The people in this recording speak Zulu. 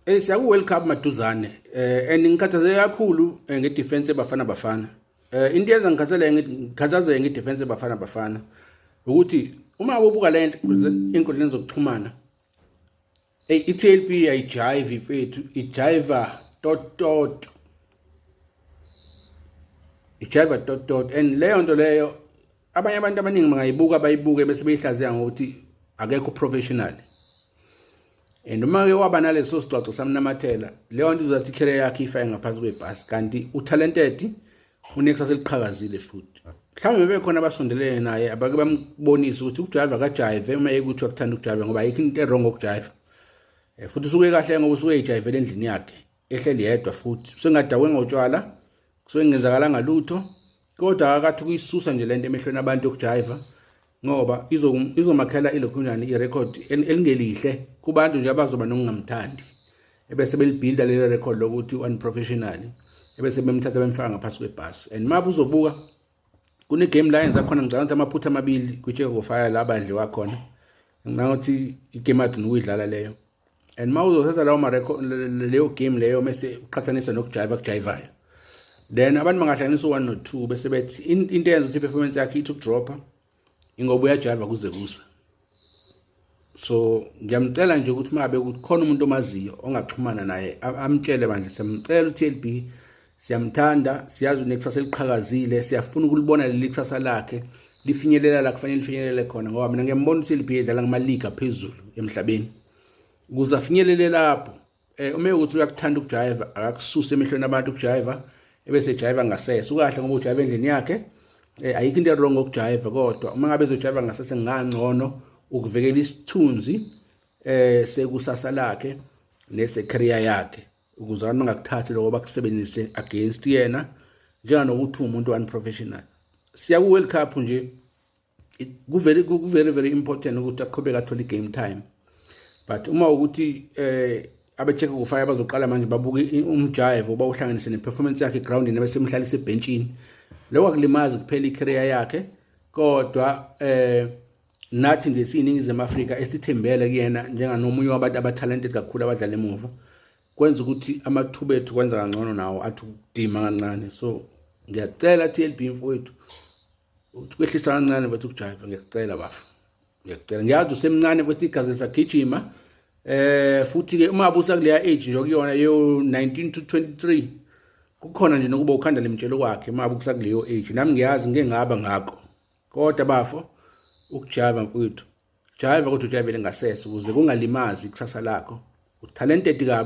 Eh siyaku welcome maduzane. Eh and ngikhathazeke kakhulu eh, nge defense ebafana bafana. Eh into yenza ngikhathazeke ngikhathazeke nge defense ebafana bafana ukuthi uma ubuka le inkundleni zokuxhumana Hey iTLP ayijive ifethu ijiva tot tot ijiva tot tot and leyo nto leyo abanye abantu abaningi bangayibuka bayibuke bese beyihlaziya ngokuthi akekho professional and uma ke waba naleso sigcwagco samnamathela leyo nto izothi ikhele yakhe ifa engaphansi kwebhasi kanti utalented unekusasa eliqhakazile futhi mhlawumbe bebe khona abasondelene naye abake bambonise ukuthi ukujayiva kajayive uma ekuthiwa kuthanda ukujayiva ngoba ayikho into erongo ukujayiva eh, futhi usuke kahle ngoba usuke ejayivele endlini yakhe ehleli yedwa futhi sengadakwe ngotshwala kusuke ngenzakalanga lutho kodwa akakathi kuyisusa nje lento emehlweni abantu yokujiva ngoba izomakhela ilokhunjani irecord elingelihle kubantu nje abazoba nokungamthandi ebese belibhilda lelo record lokuthi unprofessional ebese bemthatha bemfaka ngaphansi kwebhasi and mabuzobuka kunegame la yenza khona ngicabanga ukuthi amaphutha amabili kwitsheko kofaya la badliwa khona ngicabanga ukuthi igame agcina ukuyidlala leyo and uma uzothatha lawo leyo game leyo mese uqhathanisa nokujayiva kujayivayo then abantu bangahlanganisa u-one no-two bese bethi into eyenza ukuthi i-performance yakhe ithi ukudropha ingoba uyajiva kuze kusa so ngiyamcela nje ukuthi mabe ukuthi khona umuntu omaziyo ongaxhumana naye amtshele bandla siyamcela uTLB siyamthanda siyazi unekusasa eliqhakazile siyafuna ukulibona leli kusasa lakhe lifinyelela la kufanele lifinyelele khona ngoba mina ngiyambona uTLB edlala ngama league aphezulu emhlabeni ukuze afinyelele lapho eh uma ukuthi uyakuthanda ukujayiva akakususe emehlweni abantu ukujayiva ebese ejayiva ngasese ukahle ngoba ujayiva endlini yakhe eh ayikho into wrong ngokujayiva kodwa uma ngabe ezojayiva ngasese ngangcono ukuvekela isithunzi eh sekusasa lakhe nese career yakhe ukuze abantu bangakuthathi lokho bakusebenzise against yena njenganokuthi umuntu unprofessional siya ku World Cup nje kuvele kuvele very important ukuthi aqhubeke athole game time but uma ukuthi eh abecheck ukufaya bazoqala manje babuke umjive oba uhlanganise neperformance yakhe groundini abesemhlalisa ebhentshini lokho akulimazi kuphela icareer yakhe kodwa eh nathi nje siyiningizimu Afrika esithembele kuyena njenganomunye wabantu abatalented kakhulu abadlala emuva kwenza ukuthi amathuba ethu kwenza kangcono nawo athi ukudima kancane so ngiyacela TLB mfowethu ukwehlisa kancane bathi ukujayiva ngiyacela bafo ngiyacela ngiyazi usemncane bathi igazi lisagijima eh futhi ke uma abusa kuleya age nje okuyona yo 19 to 23 kukhona nje nokuba ukhanda lemtshelo kwakhe uma abusa kuleyo age nami ngiyazi ngeke ngaba ngakho kodwa bafo ukujayiva mfowethu jayiva kodwa ujayivele ngasese ukuze kungalimazi ikusasa lakho utalented kabi